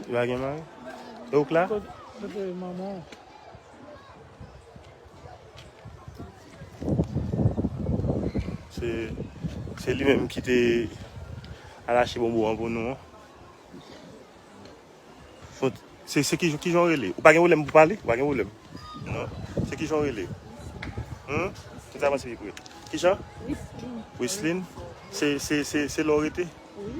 Li pa gen mari? E ouk la? Kote manman ou? Se, se li menm ki te alache bonbon an pou nou an. Font, se, se ki, ki jan rele? Ou pa gen wolèm pou pale? Ou pa gen wolèm? Non. Se ki jan rele? Hum? Ki sa panse li pou rele? Ki jan? Wisline. Wisline? Se, se, se, se la ou rete? Oui.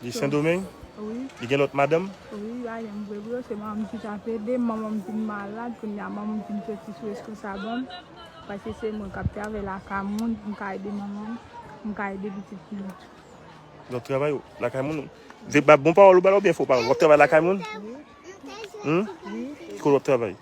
Li sendomeng? Wi. Li gen lot madanm? Wi, li pa gen vre vre, se manmanm ki tap edem, manmanm vin malad, kounya manmanm vin soti sou reskonsabanm, paske se mwen kap travay lakay moun poum ka ede manmanm, poum ka ede pitit fi m tou. Wap travay lakay moun? Se bon pawol ou bal oubyen fo pawol? Wap travay lakay moun? Wi. Humm? Wi. Ki kote wap travay?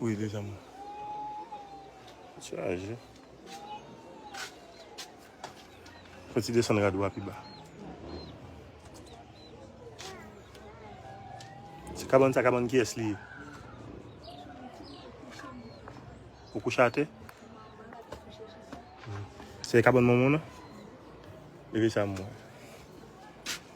Wi li janm chaje. Fè ti desann rad ou a pi ba. Ti kabann sa kabann kiyès li ye? Ou kouche atè? Se kabann manman w nan? Leve sa m wè.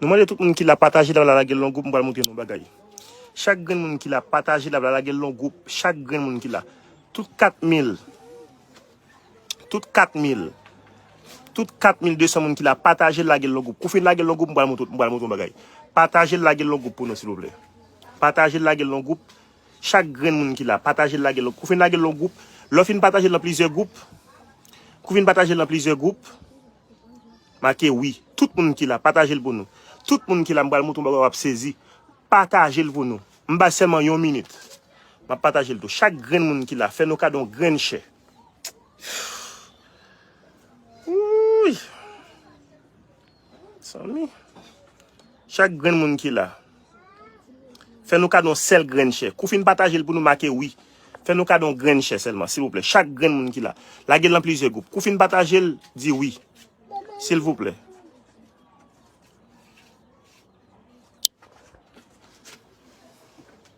Nou mande tout moun ki la pataje la lage lon goup m pral montre nou bagay. Chak grenn moun ki la pataje la lage lon goup chak grenn moun ki la. Tout 4000 Tout 4000 Tout 4200 moun ki la pataje la lage lon goup. Kou fin lage lon goup m pral montre nou bagay. Pataje la lage lon goup pou nou silvouplè. Pataje la lage lon goup. Chak grenn moun ki la, pataje l lage l lon, kou fin lage l lon gwoup, lè w fin pataje l lan plizyè gwoup, kou fin pataje l lan plizyè gwoup, make wi. Tout moun ki la, pataje l pou nou. Tout moun ki la, m pral montre w yon bagay w ap sezi. Pataje l pou nou. M bay sèlman yon minit. M ap pataje l tou. Chak grenn moun ki la, fè nou kado yon grenn chè. Wouuyy! Mezanmi. Chak grenn moun ki la. Fè nou kado yon sèl grenn chè. Kou fin pataje l pou nou make wi. Fè nou kado yon grenn chè sèlman silvouplè. Chak grenn moun ki la. Lage l nan plizyè gwoup. Kou fin pataje l, di wi. Silvouplè.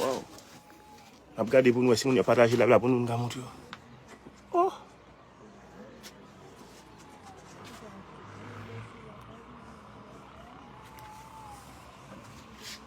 Waw. Ap gade pou nou wè si moun yo pataje live la pou nou nou ka montre yo. Oh.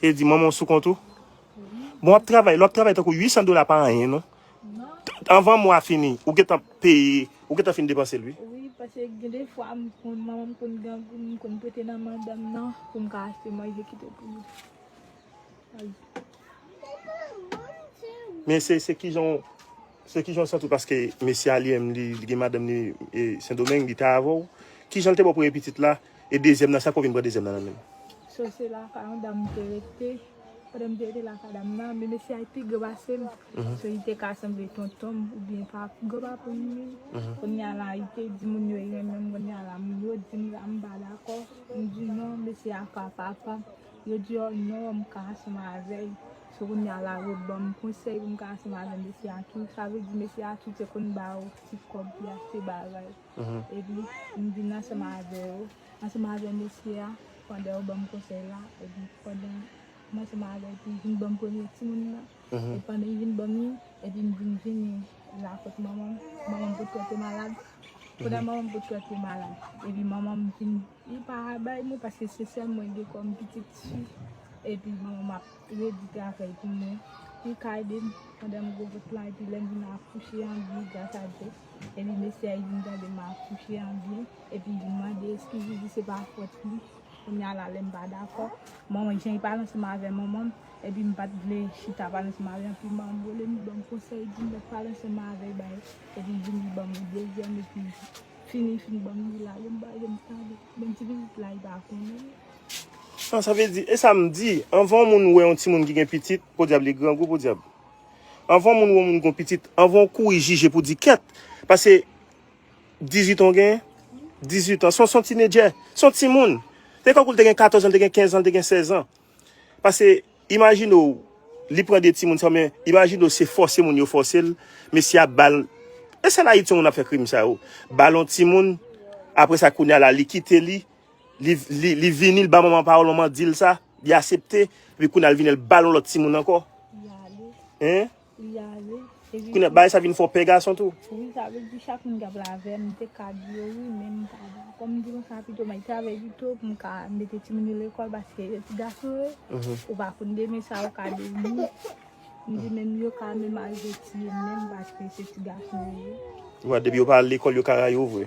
E di manman sou kont ou. Bon wap travay, lò wap travay tankou 800 dola pa anyen non. Anvan mwa fini, ou gen tan peye, ou gen tan fin depanse l wi. Wi, pase gen de fwa m konn manman m konn gen pou m konn prete nan men dam nan pou m ka achte manje kite pou li. Men se kijan w. Sè kijan ou santiw paske mesye a li menm li gen madanm li sendomeng li te avèw kijan li te baw premye pitit la e dezyèm nan sa fè ou vin pran dezyèm nan nan menl. Sè se lakay yon dam m te rete pandan m te rete lakay dam nan men mesye a li pi gran pasem so li te ka sanble tontonm oubyen papa gran papam menm kounya la li te di moun yo li renmenm kounya la moun yo dim la m pa dakò m di non mesye a pa papam yo di oh non m ka ansanm avèl. Se kounye a la rue banm konsèy pou m ka ansanm avè mesye a tou. Sa vle di mesye a tou te konn ba ou ti kòb pou y achte bagay. Epi m vin ansanm avè ou, ansanm avè mesye a pandan ou ban m konsèy la. Epi pandan m ansanm avè l epi l vin ban m premye timoun nan. Epi pandan li vin ban m li, epi m vin vini la kot manman m. Manman m potko te malad. Pandan manman m potko te malad, epi manman m vin Li pa bay mwen paske se sèl mwen gen kòm pitit fi epi bon map redi travay pou mwen li ka edem pandan m gwo vant lan epi lèm vin akouche an byen gras a Dye epi mesye a vin gade m akouche an byen epi vin mande eskiz li di se pa fòt li kounya la lèm pa dakò bon jan li pale ansanm avè manmanm epi m pat vle chita pale ansanm avè l epi m anvole m li banm konsèy li dim lèt pale ansanm avèl bay epi vini banm yon dezyèm epi. Fini li fin banm li la yom bal yom tande menm ti pitit la li pa konnen. An sa vle di, e sa m di, anvan yon moun wè yon timoun ki gen pitit, podyab li grangou podyab. Anvan yon moun wè yon moun ki gen pitit, anvan ou kouri jije pou di kèt, pase 18 an ou genyen, 18 an, se yon tinedjè, se yon timoun. Se tankou l te gen 14 an, l te gen 15 an, l te gen 16 an. Pase imajine w li pran 2 timoun sa men imajine w se fòse moun yo fòse l mesye ap bal e sèl ayiti moun ap fè krim sa yo bal yon timoun apre sa kounya la li kite li li vini l ba manman pawòl manman di l sa li asepte epi kounya l vini l bal yon lòt timoun ankò hein. Li ale. Kounye bay sa vin fò pè gason tou. Wi sa vle di chak moun kap la avèm m te ka di yo wi men m pa da. Kòm m di konsa pito m al travay pito pou m ka mete timoun yo lekòl paske yo ti gason yo ou pa konn demen sa yo ka devni. M di menm yo ka menm arive tiye m menm paske se ti gason yo ye. Ou wè depi yo pa al lekòl yo ka rayi w vre.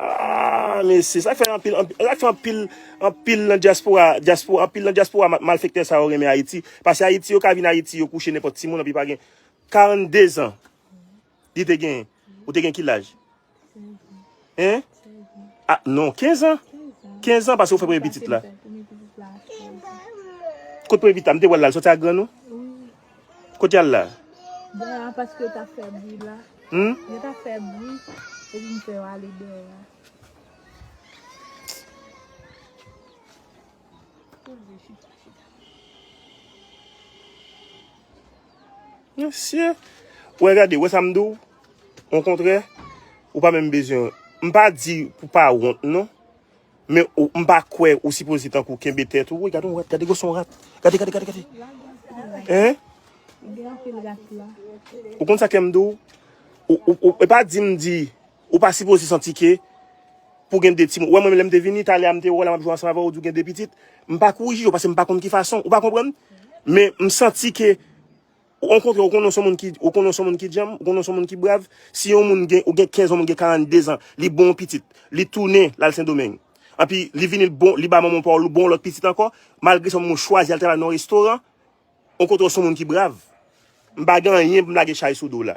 Aah mesye sak fè anpil anpil nan diaspora anpil nan diaspora malfektè sa yo renmen ayiti pase ayiti yo ka vin ayiti yo kouche nenpòt timoun anpi pa gen 42 zan li te gen ou te gen ki laj hein ah non 15 ans 15 ans pase ou fè premye pitit la kot premye pitit la m te wèl la l sòti ak grann ou Kot yal la? Dèyè a paske yo tap fè bri la. Hum? Yo tap fè bri, epi m fè yo ale dèyè a. Mesye! Wè gade, wè sa m diw? Ou kontrè, ou pa menm bezwen. M pa di pou pa wont non. Men ou m pa kwè ou sipoze tankou kenbe tèt ou. Woy gade yon rat, gade gosson rat. Gade, gade, gade, gade. Hein? Gen anpil rat la. Ou konn sa kèm dou? Ou, ou, ou, e pa di m di, ou pa sipoze santi ke pou gen de ti moun. Wè mwen lèm te vini, talè a m te wè la m ap jwe ansanm avè ou, ou di ou gen de pitit. M pa kouri jije ou paske m pa konn ki fason, ou pa konprann? Men m santi ke Ou kontre ou konnen ou son moun ki, ou konnen ou son moun ki djanm, ou konnen ou son moun ki brav. Si yon moun gen, ou gen 15 an, moun gen 42 an, li bon yon pitit, li tounen lal Sendomeng. Anpi li vini l bon, li ba manman pa ou bon lòt pitit ankò, malgre sa moun chwazi al travay nan yon restoran, ou kontre ou son moun ki brav. M pa gen anyen pou m lage chay sou do w la.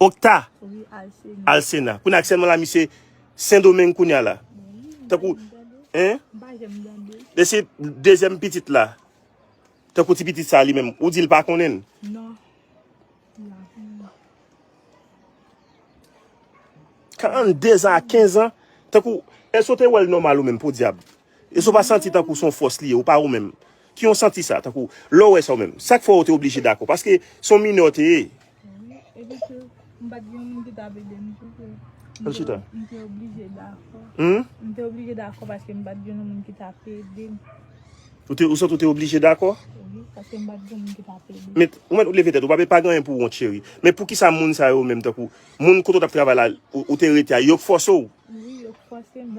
Okta al sena. Kounye a aksèlman la misye sendomeng kounye a la. Tankou, hein? Lè se dezyèm pitit la. Tankou ti pitit sa li menm. Ou di l pa konnen? Non. Kan an dezan a kenzan. Tankou, èske ou te wè l nòmal ou menm podyab? Èske w pa santi tankou se yon fòs li ye, ou pa ou menm? Ki yon santi sa, tankou, lè w wè sa ou menm? Sa k fè w te oblije dakò? Paske se yon minè w te ye. Wi, epi tou, m pa t gen yon moun ki t ap ede m tou ke m te oblije dakò. M te oblije dakò paske m pa t gen yon moun ki t ap ede m. Ou santi w te oblije dakò? Wi, paske m pa t gen yon moun ki t ap ede m. Men, ou mèt leve tèt ou, pa gen anyen pou w wont cheri. Men poukisa moun sa yo menm, tankou, moun kote w t ap travay la, ou te rete a, yo k fòse w? Wi, yo k fòse m.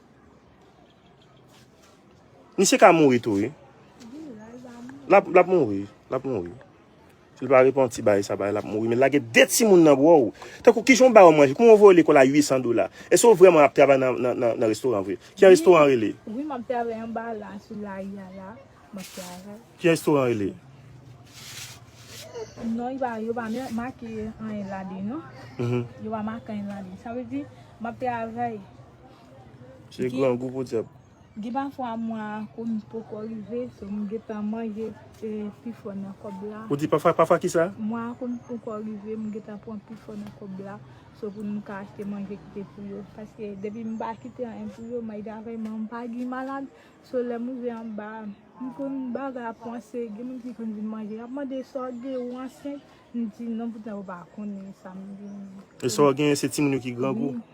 Misye ka mouri tou wi. Lap mouri. Lap mouri. Si l pa repanti bay sa bay lap mouri. Men lage de ti moun nan bro ou. Tan kou kijan ou bay ou manje. Kouman ou voye lekol a 800 dola. Eske ou vreman ap travay nan restoran vre. Ki jan restoran rele. Wi map travay anba la sou lari a la. Map travay. Ki jan restoran rele. Non yo pa men make anyen la de non. Yo pa make anyen la de. Sa vle di map travay. Se grangou pou diab. Gen pafwa mwa a konn poko rive so m gentan manje pi fò nan kòb la. Ou di pafwa, pafwa kisa? Mwa a konn poko rive m gentan pran pi fò nan kòb la so pou m ka achte manje kite pou yo. Paske depi m pa kite anyen pou yo may dave m an m pa gin malad. So lè m rive anba a m konn bagay ap kòmanse gen moun ki konn vin manje yap mande sa w gen ou ansent m di non poutan yo pa konnen sa m gen. E sa w gen se timoun yo ki grangou? Wi.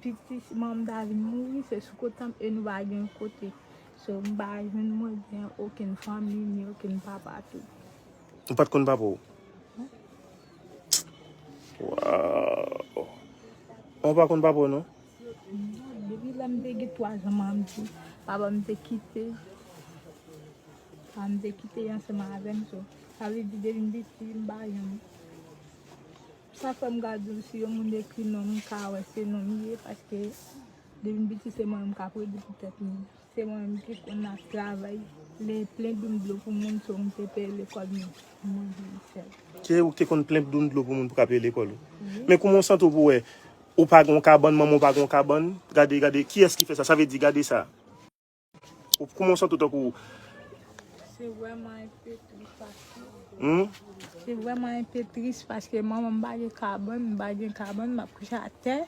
Piti siman m ta vin mouri se sou kot tanm e nou pa gen yon kote. So m pa jwenn mwen gen okenn fanmi ni okenn papa tou. Ou pat konn papa w? Waww. Ou pa konn papa w non? Non, depi lè m te gen 3 zan ma m di papa m te kite. Papa m te kite ansanm avè m so sa vle di depi m piti m pa janm. Sa fèm gad yo si yon moun ekri non m ka wè se non m ye paske depi m piti se mwen menm kap redi pou tèt m se mwen menm ki konn ap travay le plen doum dlo pou moun so m te peye lekòl m mwen vin fèl. Se ou ki te konn plen doum dlo pou moun pou ka peye lekòl ou? Wi. Men kouman w santi w pou wè ou pa gen yon kabann manman w pa gen yon kabann gade gade kiyès ki fè sa sa vle di gade sa. Ou kouman ou santi tankou. Se vreman yon pe tris paske. Hum? Se vreman yon pe tris paske manman m bagen kabann, m bagen kabann, m ap kouche a tè.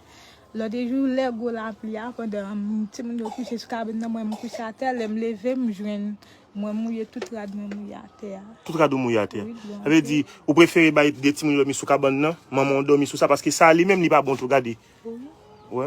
Lòde jou lè gwo lapli a, pandan ti moun yo kouche sou kabann nan mwen m kouche a tè, lè m leve m jwenn mwen mouye tout rad mwen mouye a tè a. Tout rad ou mouye a tè. Sa vle di ou prefere bay de ti moun yo dòmi sou kabann nan, manman ou dòmi sou sa paske sa li menm li pa bon tou gade. Wè?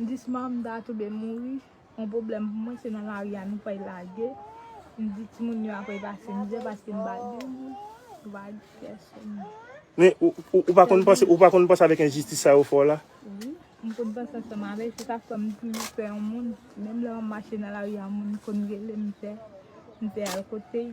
Mdis man mda toube mouri on problem pou mwen se nan lari a nou fèy lage mdi timoun yo aprè pase mizè paske mpa gen vag pèsonn. Men ou pa konn panse ou pa konn panse avèk enjistis sa yo fè w la? Wi mkonn panse ansanm avèl se sak fèm toujou pè yon moun menm lè map mache nan lari a moun konn relem pè mpè al kotey.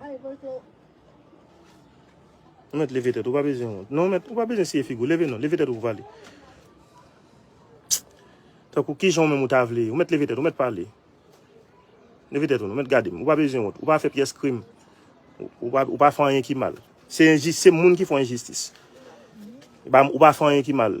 Bay vote. Ou met leve tèt ou pa bezwen wont. Non met ou pa bezwen siye figou. Leve non. Leve tèt ou pou pale. Tankou ki jan ou menm ou ta vle. Ou met leve tèt ou met pale. Leve tèt ou non. Met gade m. Ou pa bezwen wont. Ou pa fè pyès krim. Ou pa, ou pa fè anyen ki mal. Se enjis, se moun ki fè enjistis. Ou pa fè anyen ki mal.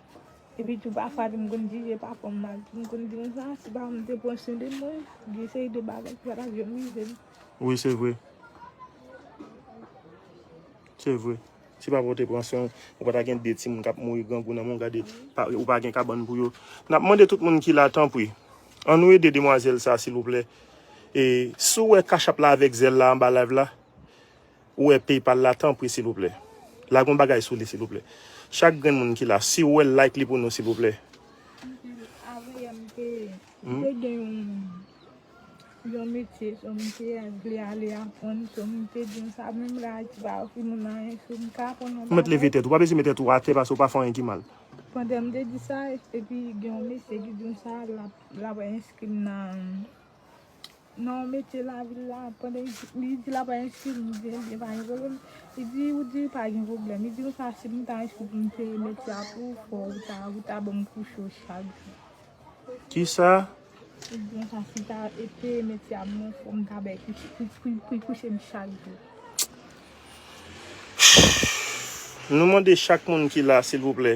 Epi tou pafwa tou m konn jije pafwa m mal tou. M konn di moun sa a si pafwa m te pran swen de mwen, gen seri de bagay ki pa t ap janm rive m. Wi se vre. Se vre. Si pafwa w te pran swen, ou pa ta gen de timoun k ap mouri grangou nan men w. Gade, ou pa gen kabann pou yo. N ap mande tout moun ki la tanpri, an nou ede demwazèl sa a silvouplè. E si w wè cash app la avèk Zelle la anba live la. Ou wè paypal la tanpri silvouplè lage yon bagay sou li silvouplè chak grenn moun ki la siw wèl like li pou nou silvouplè. Ou mèt leve tèt ou pa bezwen met tèt ou atè paske ou pa fè anyen ki mal. Non mete lavil la pandan li di la pa enskri li di li pa gen problèm li di ou di pa gen problèm li di konsa si m ta enskri pou m te mete a pou ou fò ou ta ou ta ban m kouche ou chak jou Kisa? Li di konsa si m ta te mete a pou ou fò m ta bay kouche pou l kouche m chak jou Nou mande chak moun ki la silvouplè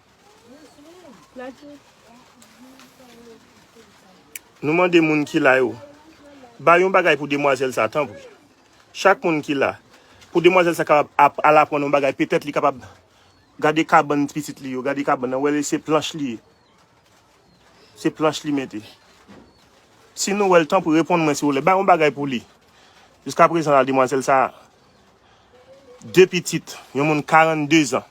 Nou mande moun ki la yo. Ba yon bagay pou demwazèl sa tanpri. Chak moun ki la. Pou demwazèl sa kapab ap al aprann yon bagay. Petèt li kapab gade kabann ti pitit li yo. Gade kabann nan. Ou wè li se planch li ye. Se planch li mete. Si nou wè l tanpri reponn mwen siwople. Ba yon bagay pou li. Jiska prezan la demwazèl sa. De pitit. Yon moun 42 zan.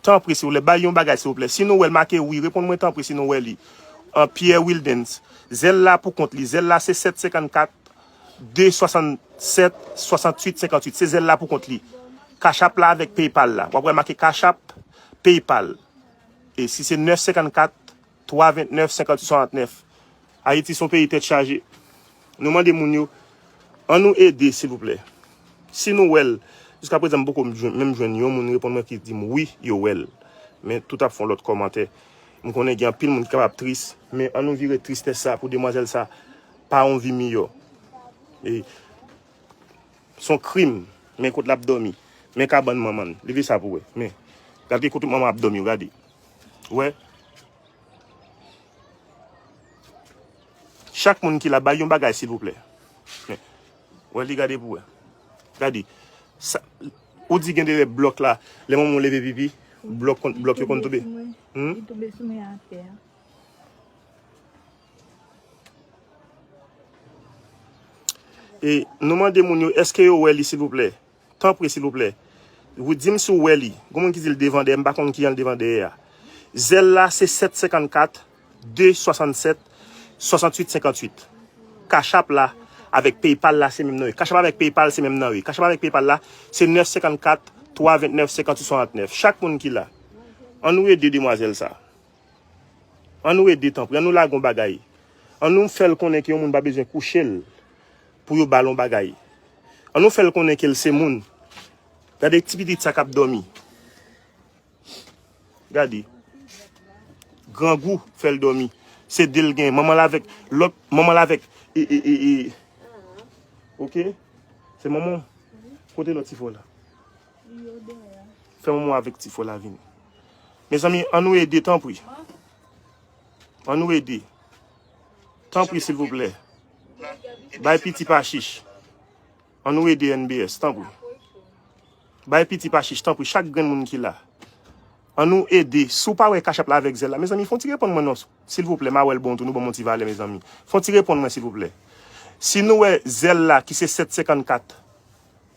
Tanpri silvouplè bay yon bagay silvouplè si nou wèl make wi reponn mwen tanpri si nou wè li an Pierre Wildens zèl la pou kont li zèl la se 7 54 2 67 68 58 se zèl la pou kont li cash app la avèk paypal la wap wè make cash app paypal e si se 9 54 3, 29, 58, 69. Ayiti son peyi tèt chaje. Nou mande moun yo, an nou ede silvouplè. Si nou wè l, jiska prezan m poko menm jwenn yon moun reponn mwen ki di m wi yo wè l. Men tout ap fon lòt kòmantè. M konnen gen anpil moun ki kapab tris, men an nou vire tristès sa pou demwazèl sa pa yon vi miyò. E son krim, men kot l ap dòmi. Men kabann manman l. Leve sa pou wè. Men, gade ki kote manman ap dòmi yo, gade. Ou wè? Chak moun ki la bay yon bagay silvouplè. Men. Ou wè li gade pou wè. Gade. Sa ou di gen dere blok la, le moun moun leve pipi, blok kon blok yo kon toube. Hum? Li toube sou mwen atè. E nou mande moun yo, eske yo wè li silvouplè? Tanpri silvouplè Ruth dim si w wè li Gon moun ki di l devan dèyè m pa konn kijan l devan dèyè a Zèl la se 7 54 2 67 68 58 Cash-app la avèk PayPal la se menm nan wi Cash-app avèk PayPal se menm nan wi Cash-app avèk PayPal la se 9 54 3 29 58 69 Chak moun ki la An nou ede demwazèl sa An nou ede tanpri An nou lage yon bagay An nou fè l konnen ke yon moun pa bezwen kouche l pou yo bal yon bagay an nou fèl konnen kel se moun gade ti pitit sa kap domi gade grangou fèl domi se del gen manman l avek lot manman l avek ee ok se manman kote lot ti fo la fè manman avek ti fo la vini mezanmi an nou ede tanpri an nou ede Tanpri silvouplè bay piti pa chich an nou ede NBS tanpri bay piti pa chich tanpri chak grenn moun ki la an nou ede si w pa wè cash app la avèk zelle la mezanmi fon ti reponn mwen non silvouplè ma wèl bon tou nou banm yon ti valè mezanmi fon ti reponn mwen silvouplè si nou wè zelle la ki se 7 54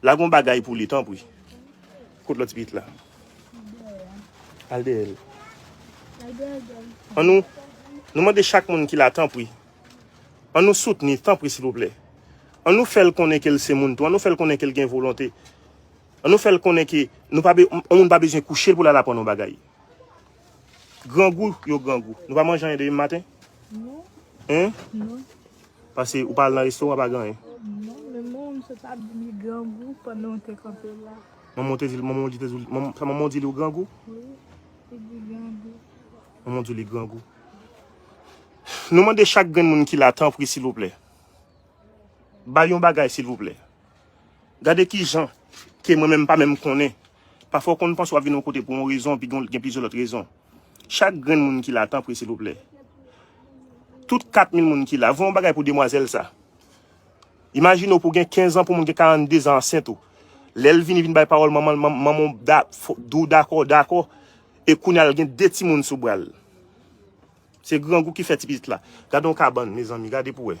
La gon bagay pou li tanpri. Kot lot tipit la. Al dèyè l. An nou Nou mande chak moun ki la tanpri. An nou soutni tanpri silvouplè. An nou fèl konnen ke l se moun tou. An nou fèl konnen ke l gen volonte. An nou fèl konnen ke yon moun pa bezwen kouche l pou l al aprann yon bagay. Grangou yo grangou. Nou pa manje anyen depi maten? Non. Hein? Non. Pase ou pa al nan restoran pa gen anyen? Non, men mwen m sot ap di li grangou pandan ou te kanpe la. Manman ou te di, manman ou di te di, sa manman ou di li ou grangou? Wi, li di grangou. Manman ou di li grangou. Nou mande chak grenn moun ki la tanpri silvouplè. Bay yon bagay silvouplè. Gade ki jan ke mwen menm m pa menm konnen. Pafwa w konn panse w ap vin yon kote pou yon rezon epi gen plizyè lòt rezon. Chak grenn moun ki la tanpri silvouplè. Tout 4000 moun ki la, voye yon bagay pou demwazèl sa. Imajine w pou w gen 15 an pou yon moun gen 42 zan ansent ou. Lè l vini vin bay pawòl manman l, manman w di w dakò, w dakò e kounye a l gen 2 timoun sou bra l. Se grangou ki fè ti pitit la. Gade yon kabann mezanmi, gade pou w wè.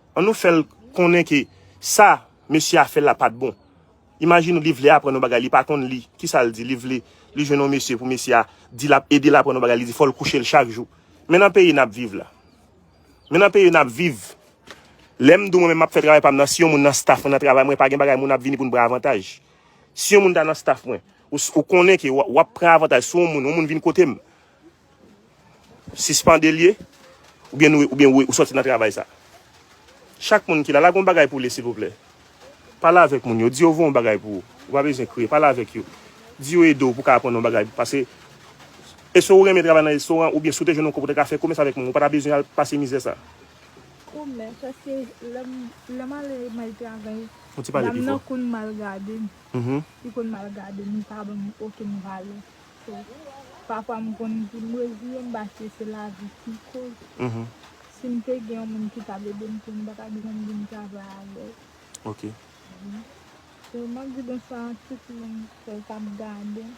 An nou fèl konnen ke sa mesye a fè la pat bon. Imajine ou li vle aprann yon bagay li pa konn li. Kisa l di? Li vle li jwenn yon mesye pou mesye a di l ap ede l aprann yon bagay li di fò l kouche l chak jou. Men nan peyi n ap viv la. Men nan peyi n ap viv. Lè m di w mwen menm m ap fè travay pa m nan si yon moun nan staff mwen nan travay mwen pa gen bagay moun ap vini pou n pran avantaj. Si yon moun ta nan staff mwen ou konnen ke w ap pran avantaj sou yon moun yon moun vin kote m Sispande liye ou byen nou ou byen ou soti nan travay sa. Chak moun ki la la gon bagay pou li silvouplè. Pale avèk moun yo di yo voyon bagay pou ou. Ou pa bezwen kriye pale avèk yo. Di yo ede w pou ka aprann yon bagay pase eswe ou renmen travay nan restoran ou byen si w te jwenn yon kòb ou ta ka fè komès avèk moun ou pa ta bezwen al pase mizè sa. Komès paske lèm lèm ale may travay dam nan konn mal gade m li konn mal gade m li pa ban m okenn valè. So pafwa m konn di m reziye m paske se lavi ki koz. Si m te gen yon moun ki t ap ede m tou m pa t ap janm vin travay avè l. Ok. So m ap di bonswa a tout moun k ap gade m.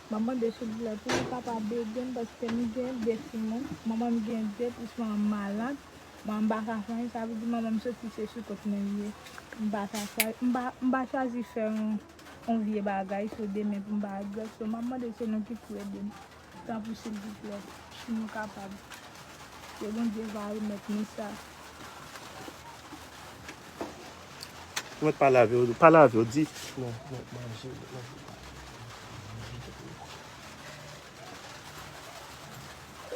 M ap mande silvouplè pou nou kapab ede m paske m gen de timoun. Manman m gen de plis manman m malad. Manman m pa ka fè anyen. Sa vle di manman m soti se sou kont mwen l ye. M pa ka fè anyen. M pa chwazi fè yon. On vye bagay so demen pou m pa al grèf so map mande se nou ki pou ede m tanpri silvouplè si nou kapab ke Bondye va remèt nou sa. Ou met pa lave yo, pa lave yo di.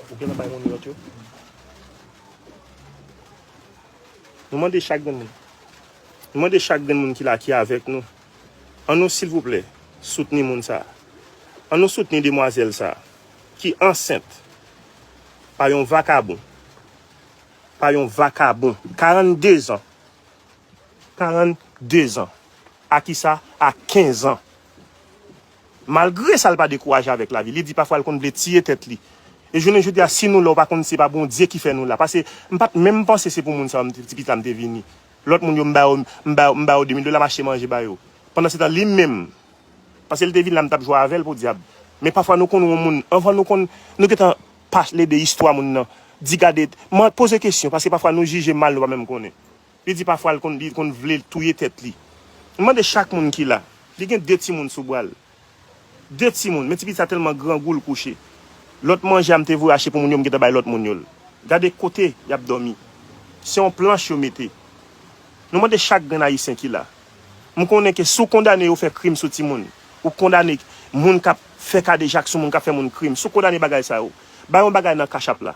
Ou gentan bay moun yo lòt yo. Nou mande chak gen moun. M mande chak grenn moun ki la ki avèk nou, an nou silvouplè soutni moun sa. An nou soutni demwazèl sa ki ansent pa yon vakabon, pa yon vakabon 42 zan, 42 zan, a kisa, a 15 ans. Malgre sa l pa dekouraje avèk lavi. Li di pafwa l konn vle tiye tèt li. E jounen jodi a si nou la ou pa konn se pa Bondye ki fè nou la. Pase m pat menm panse se pou moun sa yo m t ti pita m te vini. Lòt moun yo m ba yo m ba yo m ba yo 2000 dola m achte manje ba yo. Pandansetan li menm pase l te vin la m tap jwe avè l podyab. Men pafwa nou konn won moun anvan nou konn nou gentan pale de istwa moun nan di gade man poze kesyon pase pafwa nou jije mal nou pa menm konnen. Li di pafwa l konn li konn vle touye tèt li. M mande chak moun ki la, li gen 2 timoun sou bra l. 2 timoun, men ti pitit sa tèlman grangou l kouche. Lòt manje a m te voye achte pou moun yo m gentan bay lòt moun yo l. Gade kote y ap dòmi. Se yon planch yo mete. Nou mande chak grenn Ayisyen ki la. M konnen ke si w kondane yo fè krim sou timoun, ou kondane moun k ap fè kadejak sou moun, k ap fè moun krim, si w kondane bagay sa yo, bay yon bagay nan cash app la.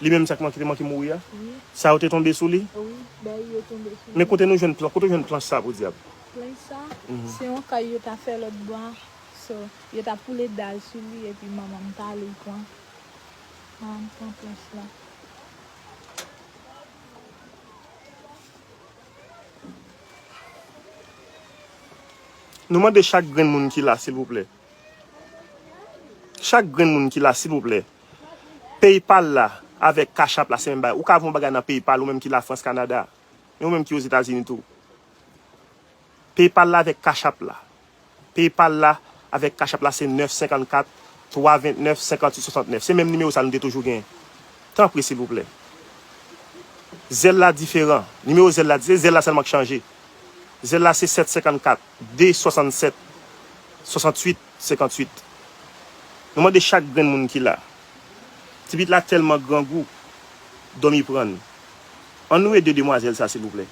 Li menm sa ki te manke mouri a? Wi. Sa yo te tonbe sou li? Wi, bèy yo tonbe sou li. Men kote nou jwenn planch, kote ou jwenn planch sa podyab? Planch sa, se yon kay yo ta fè lòt bò a. So, yo ta poule dal sou li epi manman m ta ale pran. Manman m pran planch la. Nou mande chak grenn moun ki la silvouplè. Chak grenn moun ki la silvouplè. Paypal la avèk cash app la se menm bagay. Ou ka voye yon bagay nan paypal ou menm ki la France Canada. Men ou menm ki ozetazini tou. Paypal la avèk cash app la. Paypal la avèk cash app la se 9 54 3 29 58 69. Se menm nimewo sa nou te toujou gen. Tanpri silvouplè. Zelle la diferan. Nimewo zelle la di se zelle la sèlman k chanje. Zelle la se 7 54. 2, 67, 68, 58 Nou mande chak grenn moun ki la Ti pit la tèlman grangou Dòmi pran n An nou ede demwazèl sa silvouplè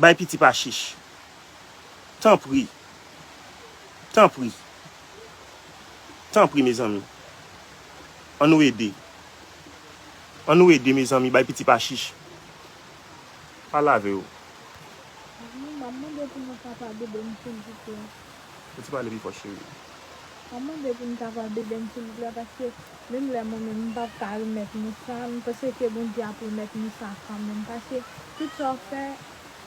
Bay piti pa chich Tanpri Tanpri Tanpri mezanmi An nou ede An nou ede mezanmi Bay piti pa chich Pa lave yo. Wi, map mande pou nou kapab bebem silvouplè. Ou te pale pi fò cheri. Map mande pou nou kapab bebem silvouplè paske menm lè mwen menm mpap ka remèt nou sa mpanse ke Bondye ap remèt nou sa kanmenm paske tout sa ou fè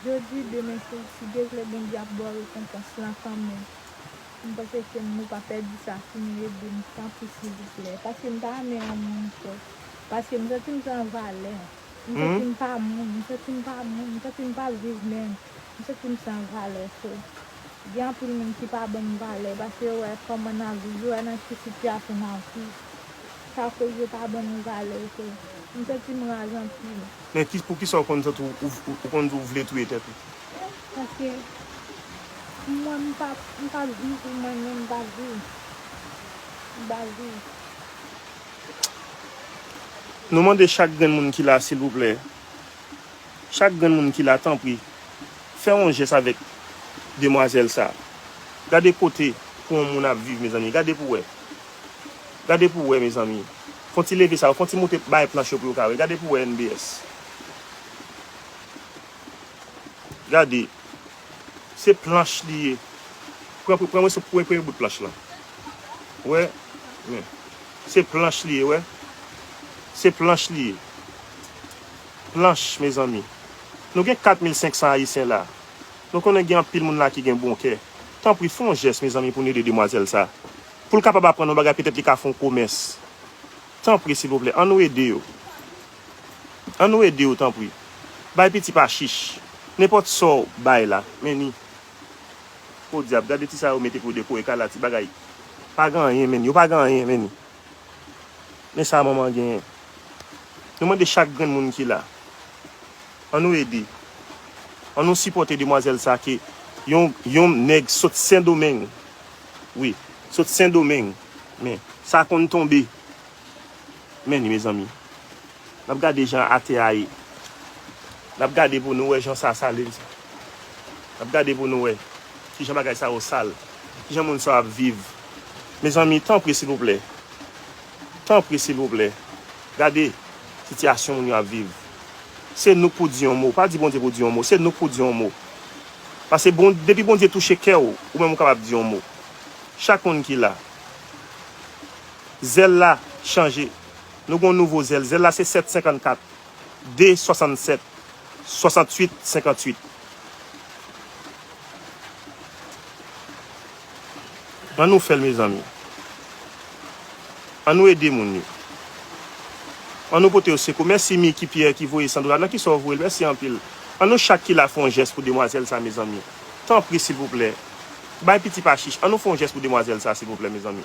jodi demen si Dye vle Bondye ap baw rekonpans lan kanmenm mpanse ke nou pa pèdi sa si nou edem tanpri silvouplè paske mpa renmen yon moun twòp paske msantim san valè. M santi m pa moun, m santi m pa moun, m santi m pa p viv menm, m santi m san valè so. Gen anpil moun ki pa ban m valè paske yo wè kòman n ap viv, yo wè nan ki sitiyasyon n ap viv. Sa koz yo pa ban nou valè so. M santi m raz anpil. Men pou ki sa ou konn santi w, ou konn di w vle touye tèt ou? Paske pou mwen m pa, m pa p viv pou mwen menm, m pa p viv. M pa p viv. Nou mande chak grenn moun ki la silvouplè, chak grenn moun ki la tanpri fè yon jès avèk demwazèl sa. Gade kote pou yon moun ap viv mezanmi, gade pou wè. Gade pou wè mezanmi. Fon ti leve sa yo, fon ti moute bay planch yo pou yo ka wè. Gade pou wè NBS. Gade. Se planch li ye. Pran moso premye bout planch lan. Wè. Men. Se planch li ye wè. Se planch li ye. Planch mezanmi. Nou gen 4500 ayisyen la. Nou konnen gen anpil moun la ki gen bon kè. Tanpri fè yon jès mezanmi pou nou ede demwazèl sa. Pou l kapab aprann yon bagay petèt li ka fè yon komès. Tanpri silvouplè an nou ede yo. An nou ede yo tanpri. Bay piti pa chich. Nenpòt sa w bay la, men ni. Podyab, gade ti sa yo mete pou dekore kay la, ti bagay. Pa gen anyen, men ni. Yo pa gen anyen, men ni. Men sa manman genyen. Nou mande chak grenn moun ki la. An nou ede. An nou sipòte demwazèl sa ke yon, yon nèg sot Sendomeng. Wi. Sot Sendomeng. Men. Sa konn tonbe. Men li mezanmi. Nap gade jan ate a ye. Nap gade pou nou wè jan sa sale mezanmi. Nap gade pou nou wè kijan bagay sa yo sal. Kijan moun sa yo ap viv. Mezanmi tanpri silvouplè. Tanpri silvouplè. Gade sitiyasyon moun yo ap viv. Se nou k pou di yon mo. Pa di Bondye pou di yon mo. Se nou k pou di yon mo. Pase depi Bondye touche kè w, ou menm ou kapab di yon mo. Chak moun ki la. Zèl la chanje. Nou gen yon nouvo zèl. Zèl la se 7 54 2 67 68 58. An nou fè l mezanmi. An nou ede moun yo. An nou pote yo sekou. Mèsi Micky Pierre ki voye Sandra. Nan kisa ou voye l? Mèsi anpil. An nou chak ki la fè yon jès pou demwazèl sa mezanmi. Tanpri silvouplè. Bay piti pa chich. An nou fè yon jès pou demwazèl sa silvouplè mezanmi.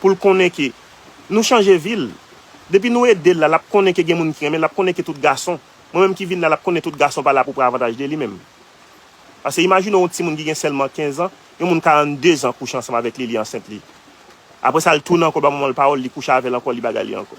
pou l konnen ke nou chanje vi l. Depi nou ede l la, l ap konnen ke gen moun ki renmen l, l ap konnen ke tout gason, mwen menm ki vin la, l ap konnen tout gason pa la pou pran avantaj de li menm. Pase imajine w yon timoun ki gen sèlman 15 an, yon moun 42 zan kouche ansanm avèk li, li ansent li. Apre sa l tounen ankò l ba manman l pawòl, li kouche avè l ankò, li bagay li ankò.